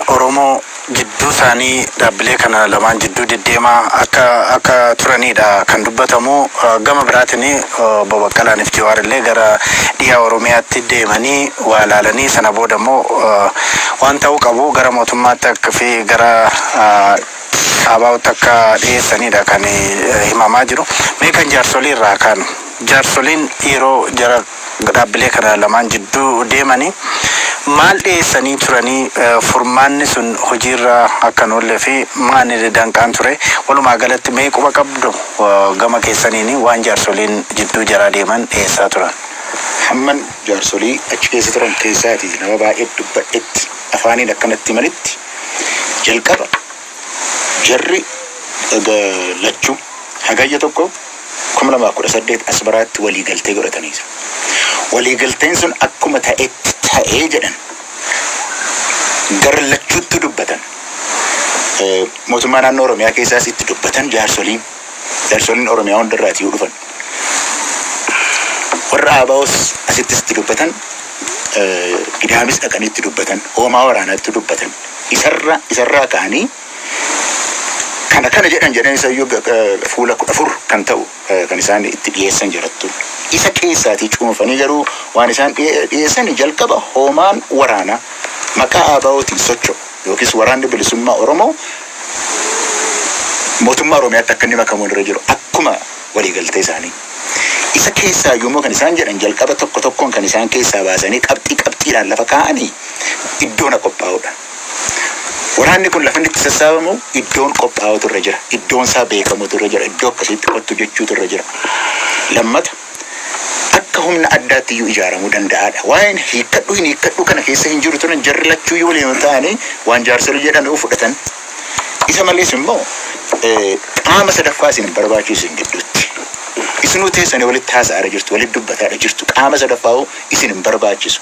Oromoo jidduu isaanii dhaabbilee kana lamaan jidduu deddeemaa akka akka turaniidha kan dubbatamu. Gama biraatiin Obbo Baqqalaan fi Jawaar illee gara dhiyaa Oromiyaatti deemanii waa laalanii sana booda immoo waan ta'uu qabu gara mootummaatti akka fi gara Abaawutti akka dhiyeessaniidha kan himamaa jiru. Mee kan jaarsolii irraa kaanu. Jaarsoliin yeroo jara Dhaabbilee kana lamaan jidduu deemanii maal dhiyeessanii turanii? Furmaanni sun hojiirra akka hin oolle fi maanili danqaan ture? Walumaa galatti mee quba qabdu gama keessaniin waan jaarsoliin jidduu jaraa deeman dhiyeessaa turan? Hamman jaarsolii achi keessa turan keessaatii nama baay'ee dubbadhetti afaaniin akka natti himanitti jalqaba jarri lachuu Hagayya 1, 2018 Asmaraatti waliigaltee godhatanii jiru. Waliigalteen sun akkuma ta'etti ta'ee jedhan. Gar lachuuttuu dubbatan. Mootummaa naannoo Oromiyaa keessaas itti dubbatan jaarsoliin. Jaarsoliin Oromiyaa hundarraati yoo dhufan. Warra Aabaa'oos asittis itti dubbatan. Gidaamis dhaqanii itti dubbatan. Hoomaa waraanaatti dubbatan. Isarra isarraa ka'anii Kan akkana jedhan jedhan isa iyyuu ga- ga- fuula kudha afur kan ta'u eh, kan isaan itti dhiyeessan jirattu. Isa keessaatii cuunfanii garuu waan isaan dhiye- dhiyeessan jalqaba hoomaan waraanaa maqaa ABOtiin socho'u yookiis waraanni bilisummaa Oromoo mootummaa Oromiyaatti akka inni makamu irra jiru akkuma waliigaltee isaanii. Isa keessaa iyyuu immoo kan isaan jedhan jalqaba tokko tokkoon kan isaan keessaa baasanii qabxii qabxiidhaan lafa kaa'anii iddoona qophaa'udha. Waraanni kun lafa inni itti sassaabamu iddoon qophaa'utu irra jira. Iddoon isaa beekamutu irra jira. Iddoo akkasiitti kottu jechuutu irra jira. Lammata akka humna addaatti iyyuu ijaaramuu danda'aadha. Waa'een hiikkadhu hin hiikkadhu kana keessa hin jiru turan jarri lachuu iyyuu waliin ta'anii waan jaarsolii jedhan uu fudhatan. Isa malees immoo qaama sadaffaa isin hin barbaachisu isin gidduutti. Isinuu teessanii walitti haasa'aara jirtu, walitti dubbataadha jirtu. Qaama sadaffaa isin hin barbaachisu.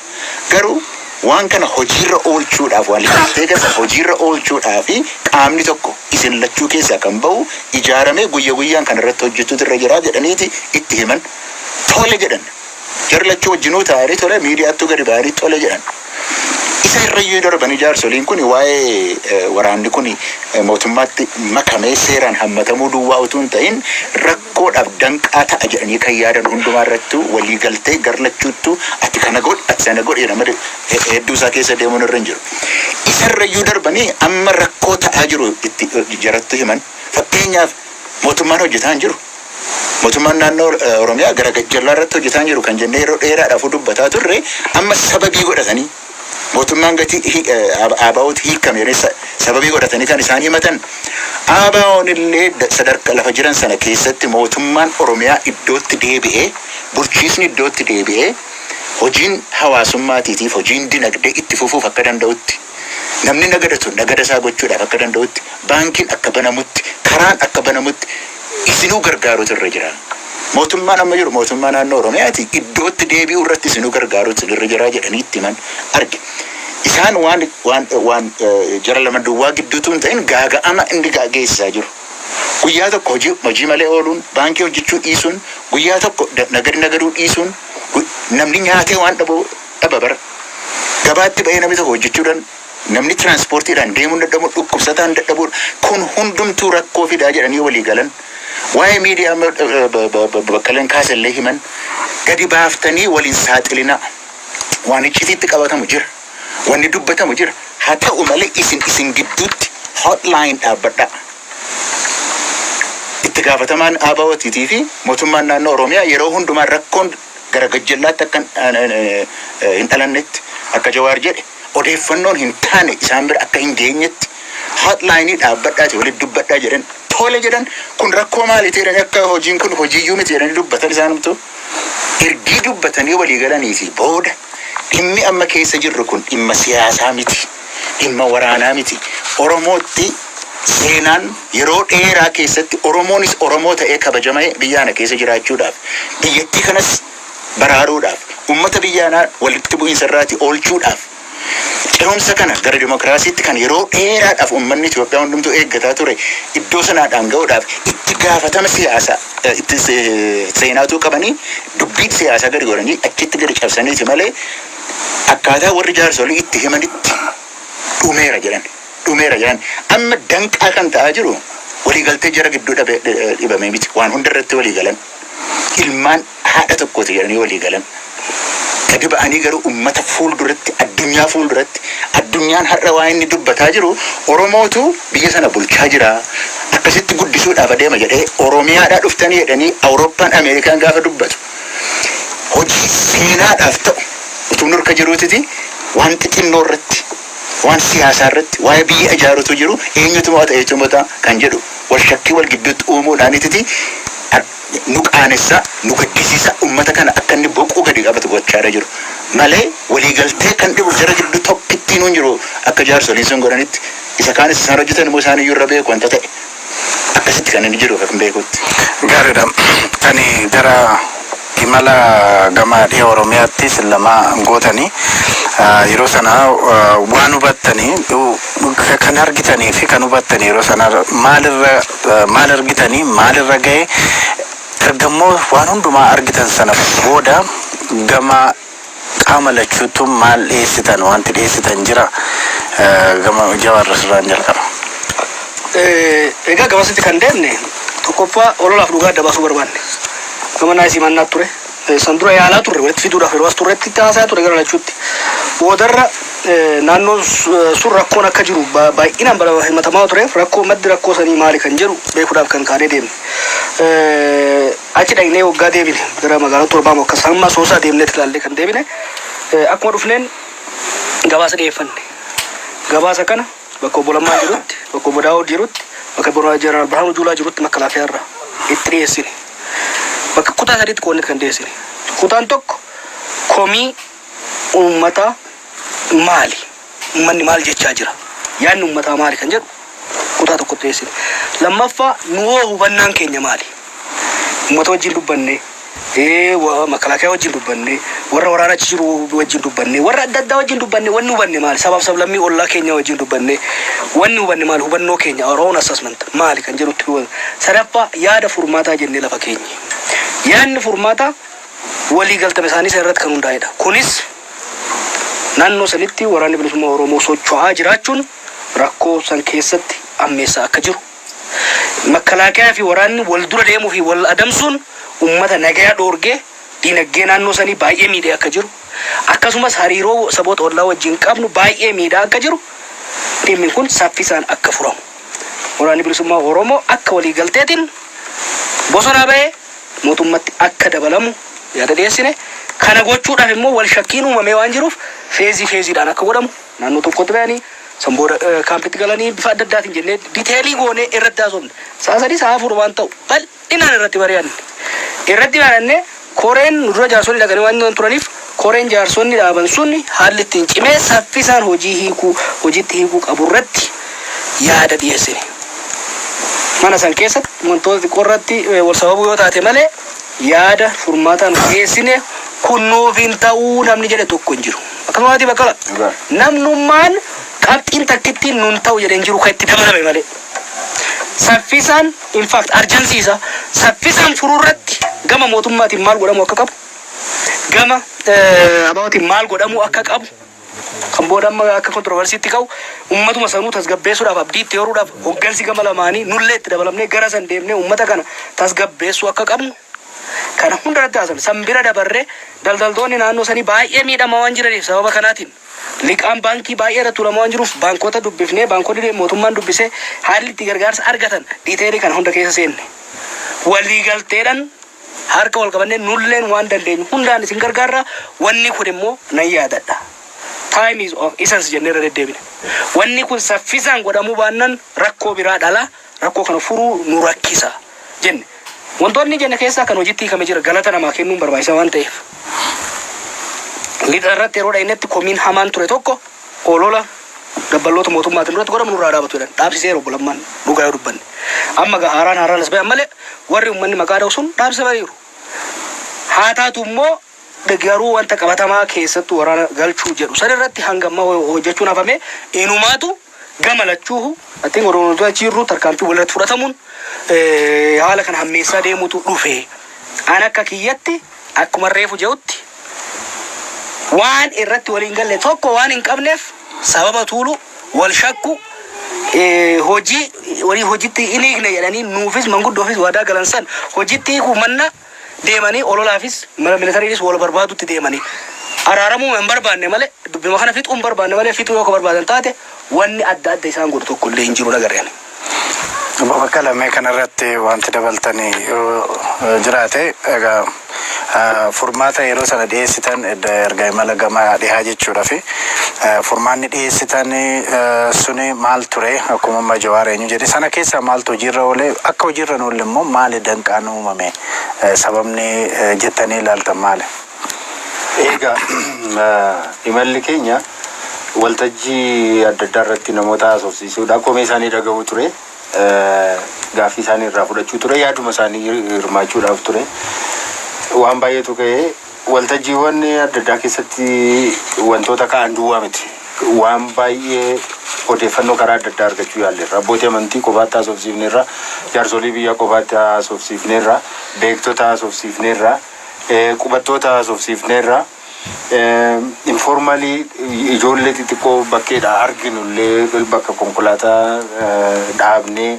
Garuu Waan kana hojiirra oolchuudhaaf, waliigaltee kana hojiirra oolchuudhaaf qaamni tokko isin lachuu keessaa kan bahu ijaaramee guyya guyyaan kan irratti hojjechuutu irra jira jedhaniiti itti himan. Tole jedhan. Jarri lachuu wajjinuu taa'anii tole miidiyaattuu gadi ba'anii tole jedhan. Isa irrayyuu darbanii jaarsoliin kun waa'ee waraanni kun mootummaatti makamee seeraan hammatamuu duwwaa utuu hin ta'in rakkoo koodhaaf danqaa ta'a jedhanii kan yaadan hundumaa irrattuu walii galtee gar lachuuttuu ati kana godhi ati sana godhi jedha malee hedduu isaa keessa deemuun irra hin jiru. Isa irra iyyuu darbanii amma rakkoo ta'aa jiru itti jarattu himan fakkeenyaaf mootummaan hojjetaa hin jiru. Mootummaan naannoo Oromiyaa gara gajjallaa irratti hojjetaa hin jiru kan jennee yeroo dheeraadhaafuu dubbataa turre amma sababii godhatanii Mootummaan gatii hi, eh, ABOtti hiikkame jedhanii sa, sababii godhatanii kan isaan himatan ABOn illee da, sadarka lafa jiran sana keessatti mootummaan Oromiyaa iddootti deebi'ee, bulchiisni iddootti deebi'ee hojiin hawaasummaatiitiif hojiin dinagdee itti fufuuf akka danda'utti, namni nagadatu nagada isaa gochuudhaaf akka danda'utti, baankiin akka banamutti, karaan akka banamutti, isinuu gargaaruutu irra jira. Mootummaan amma jiru mootummaa naannoo Oromiyaati, iddootti deebi'uu irratti isinuu gargaaruutu isin irra jira jedhanii itti himan arge. Isaan waan waan waan jara lama duwwaa gidduutu hin ta'in gaaga'ama inni geessisaa jiru. Guyyaa tokko hojii hojii malee ooluun, baankii hojjechuu dhiisuun, guyyaa tokko nagadi nagaduu dhiisuun namni nyaatee waan dhabu dhaba bara. Gabaatti ba'ee namni tokko hojjechuu Namni tiraanspoortiidhaan deemuun dadhabuun, dhukkubsataan dadhabuun kun hundumtuu rakkoo fidaa jedhanii walii galan. Waa'ee miidiyaa amma Baqqaleen kaase illee himan. Gadi baaftanii wal hin saaxilinaa. Waan iccitiitti qabatamu jira. Wanni dubbatamu jira. Haa ta'u malee isin isin gidduutti hotline dhaabbadhaa. Itti gaafatamaan ABOTiitii fi mootummaan naannoo Oromiyaa yeroo hundumaa rakkoon gara gajjallaatti akka hin dhalannetti akka Jawaar jedhe odeeffannoon hin taane isaan bira akka hin geenyetti hotline dhaabbadhaatii walitti dubbadhaa jedhan tole jedhan kun rakkoo maaliiti jedhanii akka hojiin kun hojiiyyuu miti jedhanii dubbatan isaanumtu ergii dubbatanii walii galaniitii booda dhimmi amma keessa jirru kun dhimma siyaasaa miti. dhimma waraanaa miti. Oromootti seenaan yeroo dheeraa keessatti Oromoonis Oromoo ta'ee kabajama'e biyya ana keessa jiraachuudhaaf, biyyattii kanas baraaruudhaaf, ummata biyya anaa walitti bu'iinsa irraati oolchuudhaaf, cehumsa kana gara demokraasiitti kan yeroo dheeraadhaaf ummanni Itoophiyaa hundumtuu eeggataa ture iddoo sanaadhaan ga'uudhaaf itti gaafatama siyaasa itti seenaa utuu qabanii dubbii siyaasaa gadi godhanii achitti gadi cabsaniiti malee akkaataa warri jaarsolii itti himanitti dhumeera jedhan. Dhumeera jedhan. Amma danqaa kan ta'aa jiru waliigaltee jara gidduu dhabe- dhi- eh, dhibamee miti. Waan hunda irratti walii galan. Ilmaan haadha tokkooti jedhanii walii galan. Gadi ba'anii garuu uummata fuulduratti, addunyaa fuulduratti, addunyaan har'a waa inni dubbataa jiru Oromootu biyya sana bulchaa jira. Akkasitti guddisuudhaaf adeema jedhee Oromiyaadhaa dhuftanii jedhanii Awurooppaan, Ameerikaan gaafa dubbatu. hojii seenaadhaaf ta'u utuun harka jiruutiti waan xixinnoo irratti, waan siyaasaa irratti, waa'ee biyya ijaaru utuu jiruu eenyutu mo'ata eenyutu mo'ata kan jedhu walshakkii wal gidduutti uumuudhaanititi nu qaanessa, nu gaddisiisa, ummata kana akka inni boquu gadi qabatu gochaadha jiru. Malee walii galtee kan dhibu jara gidduu tokkittiinuu hin jiru akka jaarsoliin sun godhanitti. Isa kaanis isaan hojjetan immoo isaaniyyuu irra beeku wanta ta'e. Akkasitti kan inni jiru kan beekutti. Gaariidha. Ani gara imala gama dhiha Oromiyaatti isin lama gootanii yeroo sana waan hubattani kan argitanii fi kan hubattani yeroo sana maalirra maal argitanii maalirra ga'e ergammoo waan hundumaa argitan sana booda gama Qaama lachuuttu maal dhiyeessitan? Wanti dhiyeessitan jira? Gama Jawaar sirraan jalqaba. Egaa gamasitti kan deemne tokkoffaa ololaaf dhugaa adda baasuu barbaanne. Gama naayis himannaat ture. San dura yaalaa turre walitti fiduudhaaf yeroo as turretti itti haasayaa ture gara lachuutti. Boodarra naannoon sun rakkoon akka jiru baay'inaan bara himatamaa tureef rakkoo maddi rakkoo sanii maali kan jedhu beekuudhaaf kan kaanee deemne. Achi dhaqnee waggaa deebine gara magaalaa torbaa moo akkas hamma Asoosaa deemneet ilaallee kan deebine. Akkuma dhufneen gabaasa dhiyeeffanne. Gabaasa kana bakka Obbo Lammaan jirutti, bakka Obbo Daawud jirutti, bakka Bira- Jeneraal Birhaanuu Juulaa jirutti makalaakiyaa irraa itti dhiyeessine. Bakka kutaa sadiitti qoodneet kan dhiyeessine. Kutaan tokko komii uummataa maali? Ummanni maal jechaa jira? Yaadni ummataa maali kan jedhu kutaa tokkotti dhiyeessine. Lammaffaa nuhoo hubannaan keenya maali? Ummata wajjin dubbannee, makalaakiyaa wajjin dubbannee, warra waraana achi jiru wajjin dubbannee, warra adda addaa wajjin dubbannee wanni hubanne maali? Sabaaf sablammii ollaa keenyaa wajjin dubbannee wanni hubanne maali? Hubannoo keenya our own assessment maali kan jedhutti dubbata. Sadaffaa yaada furmaataa jennee lafa keenye. Yaadni furmaataa walii galtame isaanii sana irratti kan hundaa'edha. Kunis. Naannoo sanitti Waraanni Bilisummaa Oromoo socho'aa jiraachuun rakkoo san keessatti ammeessaa akka jiru, Makkalaakayaa fi waraanni wal dura deemuu fi wal adamsuun ummata nagaya dhoorgee diinaggee naannoo sanii baay'ee miidhee akka jiru, akkasumas hariiroo saboota ollaa wajjiin qabnu baay'ee miidhaa akka jiru, dhimmi kun saffisaan akka furamu Waraanni Bilisummaa Oromoo akka waliigalteetiin bosonaa bahee, mootummatti akka dabalamu yaada dhiyeessine. Kana gochuudhaaf immoo wal shakkiin uumamee waan jiruuf feezii feeziidhaan akka godhamu naannoo tokkotti bahanii san booda kaampitti galanii bifa adda addaatiin jennee diteelii goonee irratti haasofne. Sa'a sadii sa'a afur waan ta'u bal'inaan irratti mari'anne. Irratti mari'annee koreen nu dura jaarsoliin dhaqanii waan turaniif, Koreen jaarsonni dhaaban sun haalli ittiin cimee saffisaan hojii hiikuu, hojiitti hiikuu qabu irratti yaada dhiyeessine. Mana san keessatti wantoota xiqqoo irratti wal sababuu yoo taate malee yaada furmaataa nuti dhiyeessine kun nuuf hin ta'u namni jedhe tokko hin jiru. Akkasuma miti Baqqala? Dhugaa. Namnummaan qabxiin takkittiin nu hin ta'u jedhe hin jiru kan itti dabalame malee. Saffisaan in fact arjansiisa saffisaan furuu irratti gama mootummaatiin maal godhamuu akka qabu Gama ABOtiin maal godhamuu akka qabu, kan booda amma akka kontroversiitti ka'u, ummatuma sanuu tasgabbeessuudhaaf, abdii itti horuudhaaf hoggansi gama lamaanii, nullee itti dabalamnee gara san deemnee ummata kana tasgabbeessuu akka qabnu kana hunda irratti haasofne. San bira dabarree daldaltoonni naannoo sanii baay'ee miidhamaa waan jiraniif sababa kanaatiin liqaan baankii baay'ee irra tuulamaa waan jiruuf baankota dubbifnee, baankonni mootummaan dubbisee haalli itti gargaarsa argatan detail kana hunda keessa seenne. Waliigalteedhaan. Harka wal qabannee nulleen waan dandeenyu hundaan isin gargaarra, wanni kun immoo nan yaadadha. Time is of essence jennee irra deddeebine. Wanni kun saffisaan godhamuu baannan rakkoo biraa dhala, rakkoo kana furuu nu rakkisa jenne. Wantoonni jenne keessaa kan hojitti hiikame jira, galata namaa kennuun barbaachisa waan ta'eef. Lixa irratti yeroo dhaynetti komiin hamaan ture tokko, Olola dabballoota mootummaatiin nurratti godhamu nurraa haa dhaabatu jedhan. Dhaabsiseera Obbo Lammaan dhugaa yoo dubbanne. Amma egaa haaraan haaraan as ba'e ammalee warri ummanni maqaa dha'u sun dhaabsisa ba'aniiru. Haa taatu immoo garuu wanta qabatamaa keessattuu waraana galchuu jedhu san irratti hanga ammaa ho- hojjechuun hafamee inumaatu gama lachuuhu I think odoo nuti achi jirru tarkaanfii walirratti fudhatamuun eh, haala kana hammeessaa deemutu dhufe. An akka kiyyatti Akkuman reefu je'utti, waan irratti wal hin galle tokko waan hin qabneef, sababa tuulu, wal shakku, hojii wanii hojitti hin hiikne jedhanii nuufis manguddoofis waadaa galan san hojitti hiikuu manna deemanii ololaafis mala militariinis wal barbaadutti deemanii araaramuma hin barbaanne malee dubbima kana fixuu hin barbaanne malee fixuu yoo ka barbaadan taate wanni adda adda isaan godhu tokko illee hin jiru hin agarre ani. Obbo Baqqala mee kanarratti wanti dabaltani yoo jiraate egaa furmaata yeroo sana dhiyeessitan erga imala gama dhihaa jechuudha fi furmaanni dhiyeessitan suni maal ture akkuma amma jawaar eenyu jedhe sana keessaa maaltu hojiirra oole akka hojiirra hin oolle immoo maali danqaan uumame sababni jettanii ilaaltan maali? Egaa imalli keenya waltajjii adda addaa irratti namoota haasofsiisuudha. Komee isaanii dhaga'uu ture. Gaaffii isaanii irraa fudhachuu ture. Yaaduma isaanii hirmaachuudhaaf ture. Waan baay'eetu ka'ee waltajjiiwwan adda addaa keessatti wantoota ka'an duwwaa miti. Waan baay'ee odeeffannoo karaa adda addaa argachuu yaalleerra. Abbootii amantii qofaatti haasofsiifneerra. Jaarsolii biyyaa qofaatti haasofsiifneerra. Beektota haasofsiifneerra. Qubattoota haasofsiifneerra. Informalii ijoollee xixiqqoo bakkeedhaa arginu illee bakka konkolaataa dhaabnee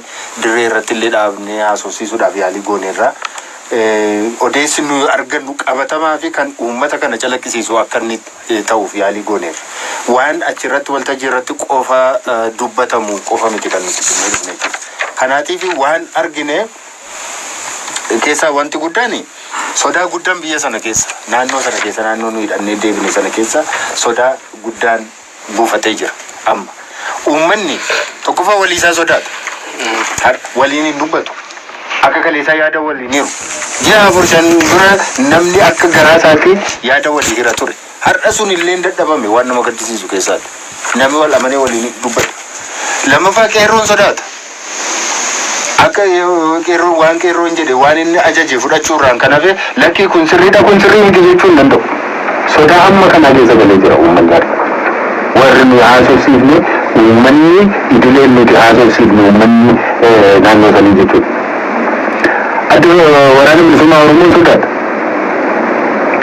dirree irratti illee dhaabnee haasofsiisuudhaaf yaalii gooneerra. Odeessi nuyi argannu qabatamaa fi kan uummata kana calaqqisiisu akka inni ta'uuf yaalii gooneerra. Waan achirratti waltajjii irratti qofa dubbatamu qofa miti kan nuti dhufnee jechuudha. Kanaatiif waan argine. keessaa wanti guddaan sodaa guddaan biyya sana keessa naannoo sana keessa naannoo nu hidhannee deebine sana keessa sodaa guddaan buufatee jira amma uummanni tokkoffaa walii isaa sodaata Har- waliin hin dubbatu akka kaleessaa yaada waliin hiru ji'a afur shan dura namni akka garaa isaatti yaada walii hira ture Har'a sun illee hin dadhabame waan nama gaddisiisu keessaati nami wal amanee waliin dubbatu. Lammaffaa qeerroon sodaata. Akka qeerroon waan qeerroon jedhe waan inni ajaje fudhachuu irraan kan hafe lakkii kun sirriidha kun sirrii miti jechuu hin danda'u. Sodaa hamma kanaa keessa galee jira uummanni har'a. Warri nuyi haasofsiifne uummanni idileen nuti haasofsiifne uummanni naannoo sanii jechuudha. Adda Waraana Bilisummaa Oromoo sodaata.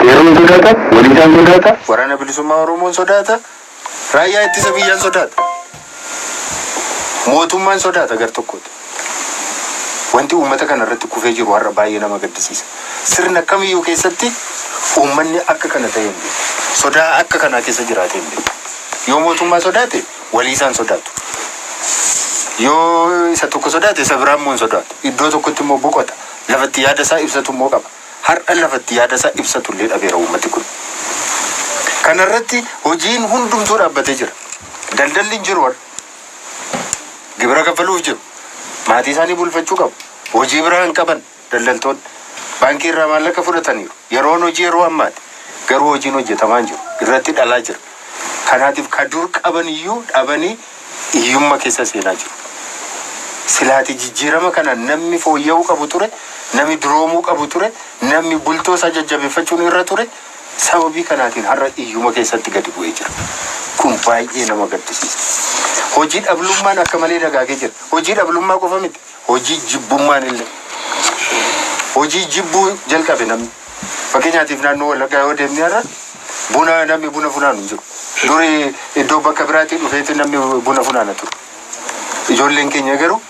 Qeerroon sodaata, Walisaan sodaata, Waraana Bilisummaa Oromoon sodaata, Raayyaa Ittisa Biyyaan sodaata. Mootummaan sodaata gar tokkooti. Wanti uummata kana irratti kufee jiru har'a baay'ee nama gaddisiisa. Sirna kamiyyuu keessatti uummanni akka kana ta'ee hin beeku. Sodaa akka kanaa keessa jiraatee hin beeku. Yoo mootummaa sodaate waliisaan sodaatu. Yoo isa tokko sodaate isa biraa immoo hin sodaatu. Iddoo tokkotti immoo boqota. Lafatti yaada isaa ibsatu immoo qaba. Har'a lafatti yaada isaa ibsatu illee dhabeera uummati kun. Kana irratti hojiin hundumtuu dhaabbatee jira. Daldalli hin jiru har'a. Gibira kaffaluuf jiru. Maatii isaanii bulfachuu qabu. Hojii biraa hin qaban daldaltoonni. Baankii irraa maallaqa fudhataniiru. Yeroon hojii yeroo ammaati. Garuu hojiin hojjetamaa hin jiru. Irratti dhalaa jira. Kanatif ka dur qaban iyyuu dhabani iyyumma kessa seena jiru. Silaati jijjirama kanan nammi fooyya'uu qabu ture, nami duroomuu qabu ture, nammi bultoo isaa jajjabeffachuun irra ture, sababii kanaatiin har'a iyyuma kessatti gadi bu'ee jira. Kun baay'ee nama gaddisiisa. Hojii dhablummaan akka malee dagaagee jira. Hojii dhablummaa qofa miti, hojii jibbummaan illee. Hojii jibbuu jalqabe namni. Fakkeenyaatiif naannoo Wallaggaa yoo deemne har'a buna namni buna funaanu hin jiru. Duri iddoo bakka biraatii dhufeeti namni buna funaana ture. Ijoolleen keenya garuu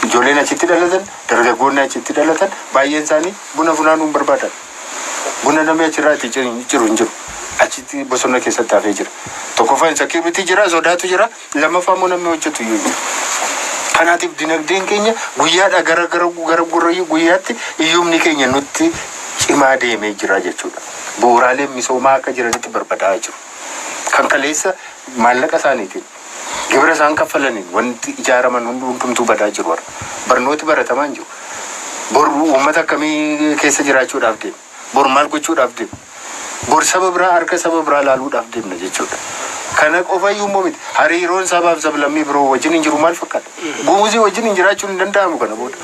ijoolleen achitti dhalatan, dargaggoonni achitti dhalatan baay'een isaanii buna funaanuu hin barbaadan. Buna namni achirraati ciru hin jiru. Achitti bosona keessatti hafee jira. Tokkoffaan insakiyuritii jira, sodaatu jira. Lammaffaa immoo namni hojjetu iyyuu hin jiru. Kanaatiif dinagdeen keenya guyyaadhaa gara gara gara gurra guyyaatti hiyyumni keenya nutti cimaa deemee jira jechuudha. Bu'uuraaleen misoomaa akka jiranitti barbadaa'aa jiru. Kan kaleessa maallaqa isaaniitiin gibira isaan kaffalaniin wanti ijaaraman hundi hundumtuu badaa jiru har'a. Barnooti baratamaa hin jiru. Bor uummata akkamii keessa jiraachuudhaaf deema? Bor maal gochuudhaaf deemna? Bor saba biraa harka saba biraa ilaaluudhaaf deemna jechuudha. Kana qofa iyyuu immoo miti. Hariiroon sabaa fi sablammii biroo wajjin hin jiru maal fakkaata? Gumuzii wajjin hin jiraachuun hin danda'amu kana booda.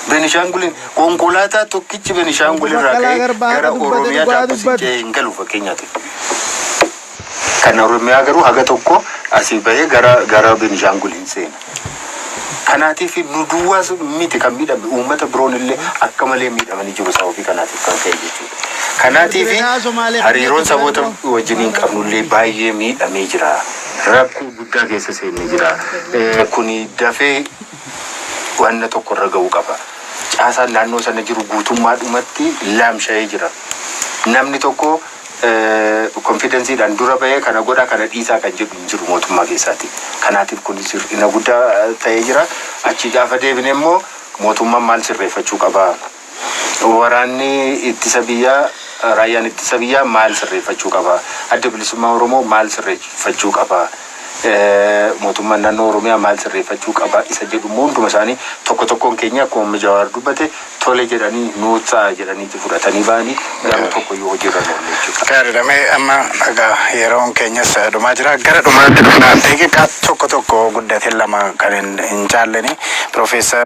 Benishaanguliin konkolaataa tokkichi Benishaangul irraa ka'ee gara Oromiyaa Daabba Sincee hin galu fakkeenyaatiif. Kan Oromiyaa garuu haga tokko asii bahee gara gara Benishaangul hin seena. Kanaatiif nu duwwaas miti kan miidhame uummata biroon illee akka malee miidhamanii jiru sababii kanaatiif kan ka'e jechuudha. Kanaatiif hariiroon saboota wajjiniin qabnu illee baay'ee miidhamee jira. Rakkoo guddaa keessa seenne jira. Kuni dafee wanna tokko irra ga'uu qaba. Caasaan naannoo sana jiru guutummaadhumatti laamsha'ee jira. Namni tokko confidence dhaan dura bahee kana godhaa kana dhiisaa kan jedhu hin jiru mootummaa keessaati. Kanaatiif kunis hir'ina guddaa ta'ee jira. Achii gaafa deebine immoo mootummaan maal sirreeffachuu qabaa? Waraanni ittisa biyyaa raayyaan ittisa biyyaa maal sirreeffachuu qabaa? Addi bilisummaa Oromoo maal sirreeffachuu qabaa? Mootummaan naannoo Oromiyaa maal sirreeffachuu qaba isa jedhu immoo hunduma isaanii tokko tokkoon keenya akkuma Obbo Jawaar dubbate tole jedhanii nuuf ta'a jedhaniiti fudhatanii ba'anii garuu tokko iyyuu hojiirra hin oolle jechuudha. Gaariidha mee amma egaa yeroon keenyas dhumaa jira gara dhumaatti dhufna daqiiqaa tokko tokko guddatin lama kan hin caallenii Piroofeesar.